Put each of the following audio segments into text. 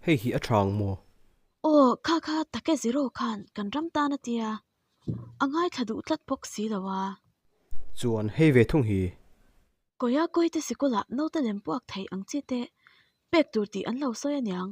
Hei hi a chang maw? Aw, kha kha, Take Zero khan kan ram tan a tia, a ngaithla duh tlat bawk si lo a. Chuan hei ve thung hi. Kawia kawite sikul ah naute lem puak thei ang chi te pek tur tih an lo sawi aniang.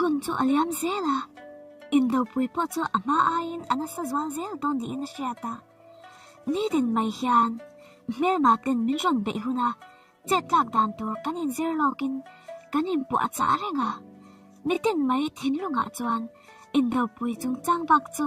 Hun chu a liam zel a, Indopui pawh chu a hma aiin a nasa zual zel dawn niin a hriat a. Nitin mai hian hmelma ten min rawn beih hun a, chettlak dan tur kan inzir lawkin kan inpuah a chah reng a. Nitin mai thinlungah chuan Indopui chungchang bak chu.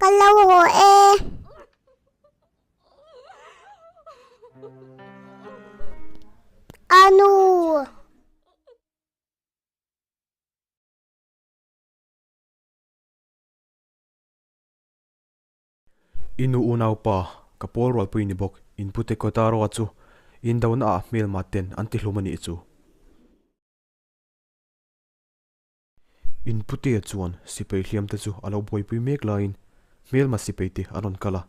Kan lo ho e. Anu. Inu unaupa ka pawl rualpui ni bawk in pu teko ta rawh a chu in do na ah hmelma ten an ti hlum a nih chu. In putea chuan sipai hliamte chu a lo buaipui mek laiin hmelma sipaite a rawn kal a,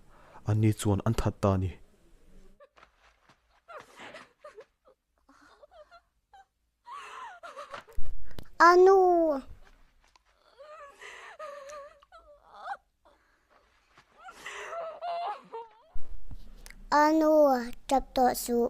anni chuan an that ta a ni. A nu! A nu, tap tawh suh.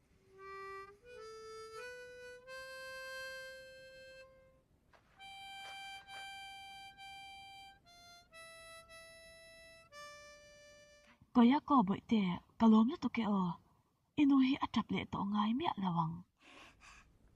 Kawiyako bawihte, ka lawm lutuk e aw. I nu hi a tap leh tawh ngai miah lo ang.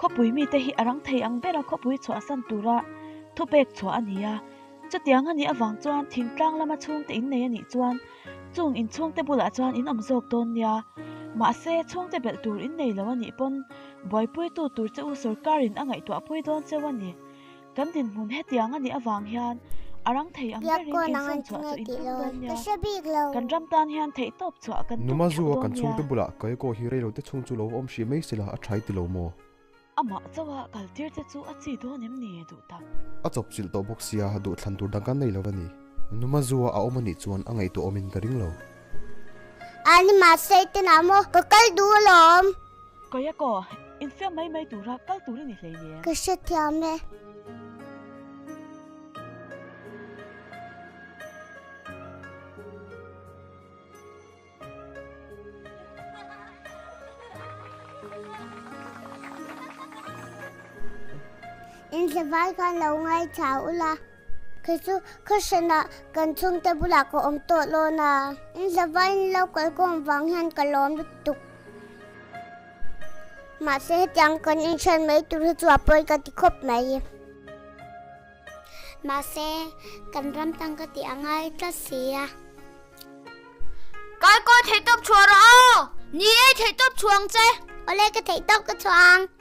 Khawpui mite hi a rang thei ang bera khawpui chhuah a san tura thupek chhuah a ni a. Chutiang a nih avang chuan thingtlang lama chhungte in nei a nih chuan chung inchhungte bulah chuan in awm zawk dawn nia. Mahse, chhungte belh tur in nei lo a nih pawn buaipuitu tur che u sorkarin a ngaihtuahpui dawn cheu a ni. Kan dinhmun hetiang a nih avang hian a rang thei ang berin insawn chhuah chu in tum dawn nia, kan ram tan hian theihtawp chhuah a kan tum theuh dawn nia. Numa zu a kan chhungte bulah kei kaw hi reilote chhung chu lo va awm hriat mai sela a thai ti lo maw? Amah chauha kal tir te chu a chi dawn em ni? Duh tak. A chawpchilh tawh bawk sia, duh thlan tur dang kan nei lo a ni. Numa zu a a awm a nih chuan a ngaihtuah awm in ka ring lo. Ani mahse i ti na maw? Ka kal duh alawm. Kawih a kaw, infiam mai mai tura kal tur i ni hlei le. Ka hre thiam e. Inhleval khan lo ngaithla ula. Kei chu khaw hranah kan chhungte bulah ka awm tawh lawn a. In hlava in lo kal kawng vang hian ka lawm lutuk. Mahse hetiang kan inhran mai tur hi chu a pawi ka ti khawp mai. Mahse kan ram tang ka tih a ngai tlat si a. Kaikawi theih tawp chhuah rawh aw. Ni ei theih tawp chhuah ang che. Awle ka theih tawp ka chhuah ang.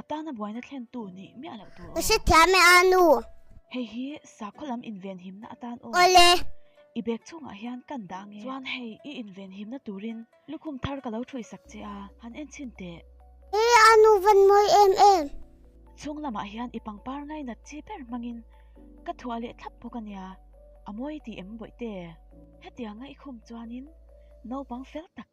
Atana buaina thlentu nih miah loh tur aw. Ka hrethiam e a nu. Hei hi sakhaw lam invenhimna atan aw. Awle. I bag chungah hian kan dah nge. Chuan hei i invenhimna turin lukhum thar ka lo thruihsak che a, han en chhin teh. He a nu van mawi em em. Chhung lamah hian i pangpar ngai nat chi ber hmangin ka thuah leh thlap bawk a nia. A mawi tih em bawih te. Hetianga i khum chuanin naupang fel tak.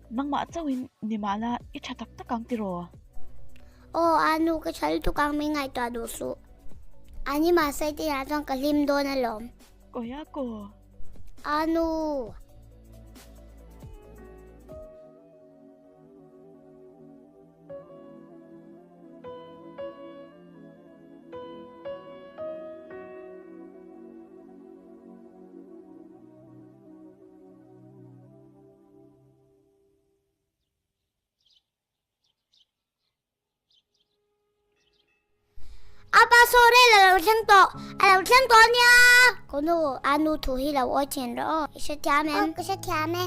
Nangmah chauhin nimahna i tha tak tak ang tiraw? Aw, a nu, ka tha lutuk ang, min ngaihtuah duh suh. A ni mahse tinah chuan ka hlim dawn alawm. Kawi a kaw. A nu. Apa sore la lo thleng tawh a lo thleng tawh ania ko nu a nu thu hi lo awi chin rawh aw i hre thiam em ka hre thiam e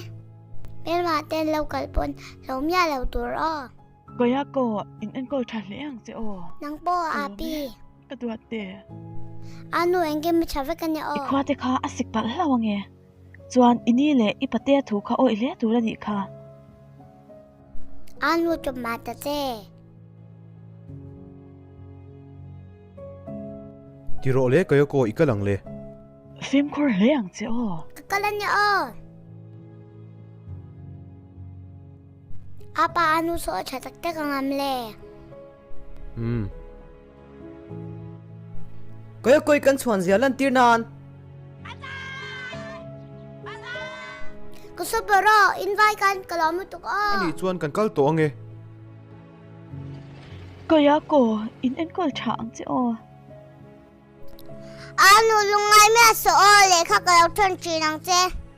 Pelma ten lo kal pawn lo mia lo tur aw Kawia ko in en ko tha hle ang che aw nang pawh a pi ka duat te a nu engkim a tha vek ania aw i khua te kha a sik palh hlau ange. Chuan i ni leh i pate thu kha awih hle tur a nih kha. An lut tawp mah ta che. Ti rawh le Kayawk aw i kal ang le. Fimkhur hle ang che aw. Ka kal a nia aw. Apa a nu saw a tha tak tak ang am le. Umm. Kawia kawih kan chhuan zia lantir nan. Ka super ro, invite kan ka lo mutuk o. Ani chuan kan kal tawh ange. Kawia ko, in enkawl tha ang che o. Anu lungngai mia se o, lehkha ka lo ṭhan ṭhin ang che.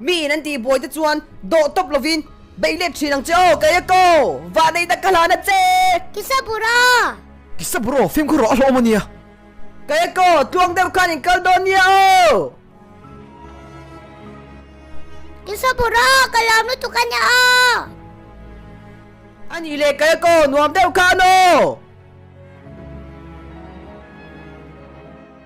Mi in an tih buai te chuan dawh tawp lovin, Beih let thin ang che aw, kei a ko! Vahnei dak ka hlan a che! Kisa bura! Kisa bura! Fimkhur rawh a hlawm a nia! Kei a ko! Tluang deuh khan in kal dawn nia aw! Kisa bura! Ka lam lutuk a nia aw! A nih leh kei a ko! Nuam deuh khan aw!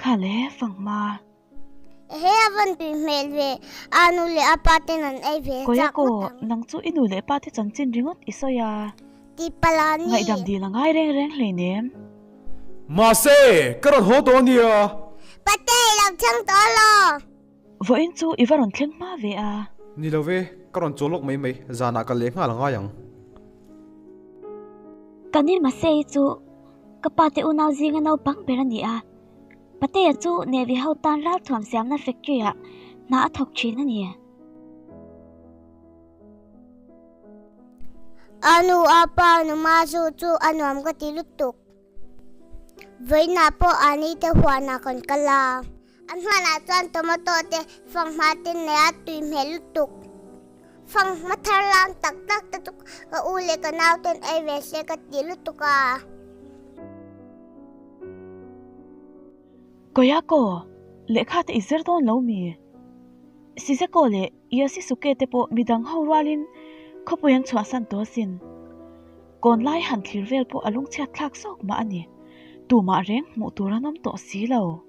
Kha le fang ma. He a van tui hmel ve a nu leh a pa ten an ei ve chak ngawt ang. Koyako, nang chu i nu leh pa te chanchin ringawt i sawi a. Ti pala ni. Ngaihdam dil a ngai reng reng hleinem. Mahse, ka rawn haw tawh a nia. Pateii, lo chhang tawh a law. Vawiin chu i va rawn thleng hma ve a. Ni lo ve, ka rawn chawl lawk mai mai, zanah ka leh nghal ngai ang. Ka ni mahse i chu ka pa te unau zinga naupang ber a ni a. Pateia chu Navy ho tan ralthuam siamna factory-ah hna a thawk thin a ni. A nu a pa numa zu chu a nuam ka ti lutuk. Vawiinah pawh aa ni te huanah kan kal a. A hnuanah chuan tomato te, fanghma te nei a tui hmel lutuk. Fanghma thar lam tak tak te chu ka u leh ka nau ten ei ve se ka ti lutuk a. Koyako, lehkha te i zir dawn lo mi? Siseko leh Yasusuke te pawh midang ho rualin khawpui an chhuahsan tawh sin. Kawn lai han thlir vel pawh a lungchhiat thlak zawk mah a ni. Tumah reng hmuh tur an awm tawh si lo.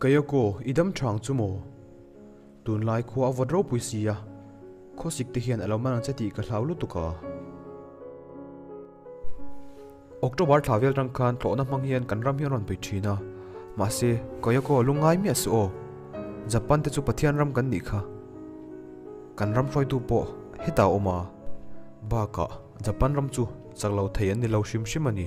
Kei a kaw, i dam thang chu maw? Tunlai khua a vawt ropui si a, khawsik te hian a lo man ang che tih ka hlau lutuk a. October thla vel tang khan tlawhna hmang hian kan ram hi a rawn pui thin a. Mahse, Kei a kaw, lungngai miah suh aw. Japan te chu Pathian ram kan nih kha. Kan ram hruaitu pawh heta a awm a. Bakah, Japan ram chu chak lo thei an ni lo hrim hrim a ni.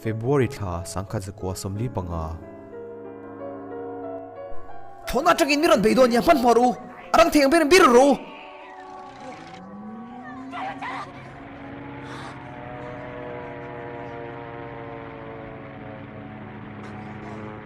February thla sangkhat zakua sawmli panga. Thawn atangin min rawn bei dawn nia, hmanhmawh rawh u, a rang thei ang berin bir rawh u.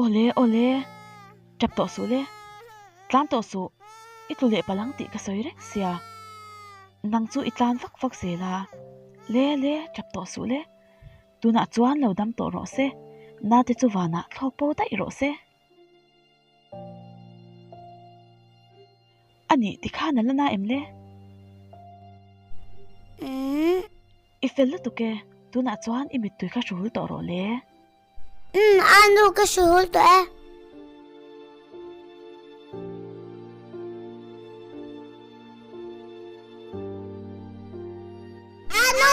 Awle awle tap tawh suh le tlan tawh suh i tlu leh palang tih ka sawi reng sia nang chu i tlan vak vak zel a le le tap tawh suh le tunah chuan lo dam tawh rawh se nate chu vanah thlawk pawi daih rawh se. A nih ti khan a la na em le? Umm. I fel lutuk e. Tunah chuan i mittui ka hrul tawh rawh le. Umm, Anu, ka hrul tawh e. Anu!